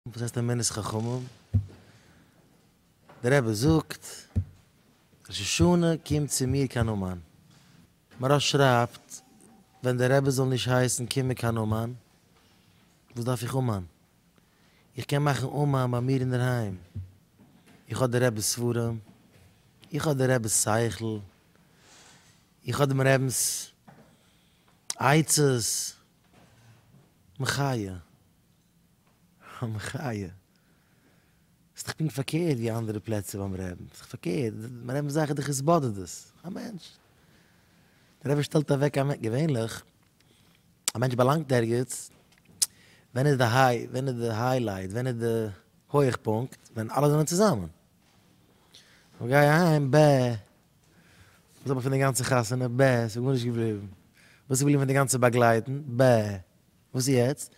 וואס הייסט אמונת חכמים? דער רבי זאגט, ראש השנה קומט צו מיר קיין אומאן. מהרש שרייבט, ווען דער רבי זאל נישט הייסן קום מיר קיין אומאן, וואס דארף איך אומאן? איך קען מאכן אומאן ביי מיר אינדערהיים. איך האב דער רבי'ס ספרים, איך האב דער רבי'ס שכל, איך האב דעם רבינ'ס עצות, מחיה. המחיה. ס'איז דאך פונקט פארקערט ווי אנדערע פלעצער ביים רעבן. ס'איז דאך פארקערט. מיר רעדן פון זאכן די כיסבאדע דאס. א מענטש. דער רבי שטעלט אוועק א מענ. געווענליך. א מענטש באלאנגט ערגעץ. ווען איז די היי. ווען איז די היילייט. ווען איז די הויעכפונקט. ווען אלע זענען צוזאמען. כ'גיי אהיים ב. וואס האב איך פון די גאנצע חתונה ב. ס'איז גארנישט געבליבן. וואס איז געבליבן פון די גאנצע באגלייטן ב. וואס איז יעצט?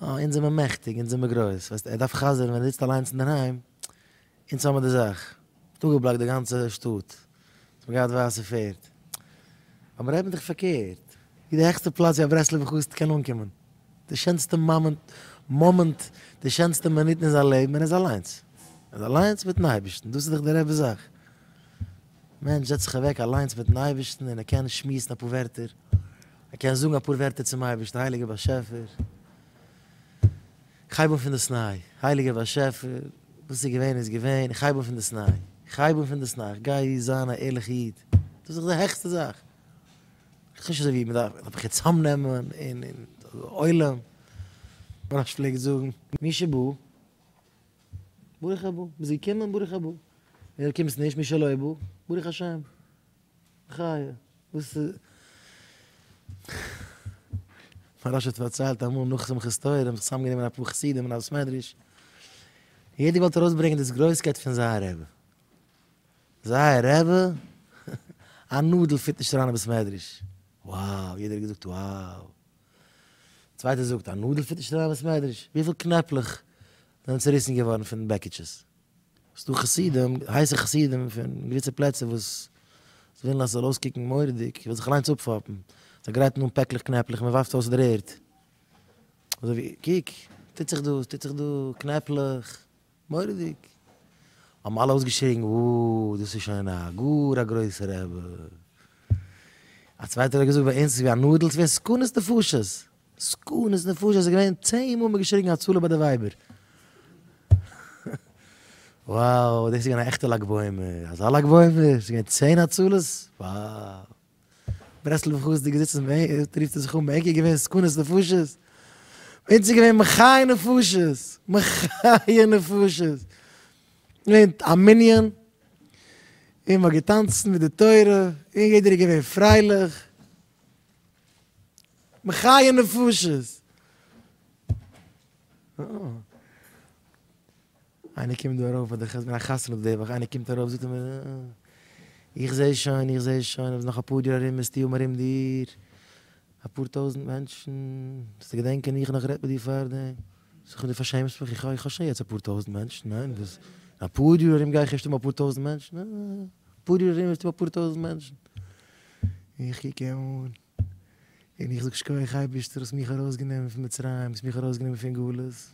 אה, אונז זעמער מעכטיג, אונז זעמער גרויס. ווייסט, ער דארף חזר'ן ווען ער זיצט אליינס אינדערהיים, אונז האמיר די זאך. אפגעבלאקט די גאנצע שטאט. אונז האמיר געהאט ווייסע פערד. אבער אויב מ'דארף פארקערט. ווי די העכסטע פלאץ ווי א ברסלב'ע חסיד קען אנקומען. די שענסטע מאמענט, די שענסטע מינוטן אין זיין לעבן, ער איז אליינס. ער איז אליינס מיטן אייבערשטן. דאס איז דאך די רב'ס זאך. מענטש זעצט זיך אוועק אליינס מיטן אייבערשטן און ער קען שמועסן אפאר ווערטער. ער קען זאגן אפאר ווערטער צום אייבערשטן, הייליגער באשעפער, איך הייב אן פונדאסניי, הייליגער באשעפער, וואס איז געווען איז געווען, איך הייב אן פונדאסניי, איך הייב אן פונדאסניי, איך גיי זיין א ערליכע איד, דאס איז די העכסטע זאך, איך ווייס נישט אזוי ווי מען דארף, דארף איך יעצט צאמנעמען אין עולם, ווי רש ש פלעגט זאגן, מי שבא, ברוך הבא, ביסט געקומען, ברוך הבא, און אויב קומסט נישט, מי שלא בא, ברוך השם. חיה, וואס איז? מוהראש האט פארציילט אמאל נאך שמחת תורה, זיי האבן זיך צוזאם גענומען אפאר חסידים אין א בית מדרש, יעדער געוואלט ארויס ברענגען דאס גרויסקייט פון זייער רבי, זייער רבי? א נאדל פיט נישט אריין אין בית מדרש, wow, יעדער האט געזאגט wow, צווייטער זאגט א נאדל פיט נישט אריין אין בית מדרש, וויפיל קנעפלעך זענען צוריסן געווארן פון בעקיטשעס? ס'איז דא חסידים, הייסע חסידים פון געוויסע פלעצער וואס ווילן אז ס'זאל אויסקוקן מורא'דיג, איך וועל זיך אליינס אפפאפן, זיי גרייטן אן פעקלעך קנעפלעך, מען ווארפט אויס דער ערד, אזוי ווי קוק, טוט זיך דא, ס'טוט זיך דא, קנעפלעך, מורא'דיג, האבן אלע אויסגעשריגן, וואו, דאס איז שוין א גאר א גרויסע רבי, א צווייטער האט געזאגט, ביי אונז איז ווי א נאדל, ס'ווערט סכנת נפשות, סכנות נפשות איז געווען צען מאל מען געשריגן הצלה ביי די ווייבער. וואו דאס איז געווען א עכטע לג בעומר, אזא לג בעומר, ס'איז געווען צען הצלות, וואו. ברסלב'ע חסידים זיצן בענק, רופט ער זיך אן בענק איז געווען סכנות נפשות, ביי אונז איז געווען מחיה נפשות, מחיה נפשות, געווען א מנין, און מ'האט געטאנצן מיט די תורה, און יעדער איז געווען פרייליך. מחיה נפשות! איינער קומט דא ארויף אדער כ'האב געווען א חתונה די וואך איינער קומט ארויף זאגט ער מיר איך זעה שוין איך זעה שוין אז נאך אפאר יאר ארום וועסטו האבן ארום דיר אפאר טויזנט מענטשן וועסטו געדענקען איך נאך גערעדט מיט דיר פארדעם זאג איך דו פארשעמסט מיך איך האב שוין יעצט אפאר טויזנט מענטשן ניין וואס אפאר יאר ארום גיי איך ערשט האבן אפאר טויזנט מענטשן אפאר יאר ארום וועסטו האבן אפאר טויזנט מענטשן איך קוק אים אן, און איך זאג שקויעך אייבערשטער האסט מיך ארויסגענומען פון מצרים, האסט מיך ארויסגענומען פון גלות.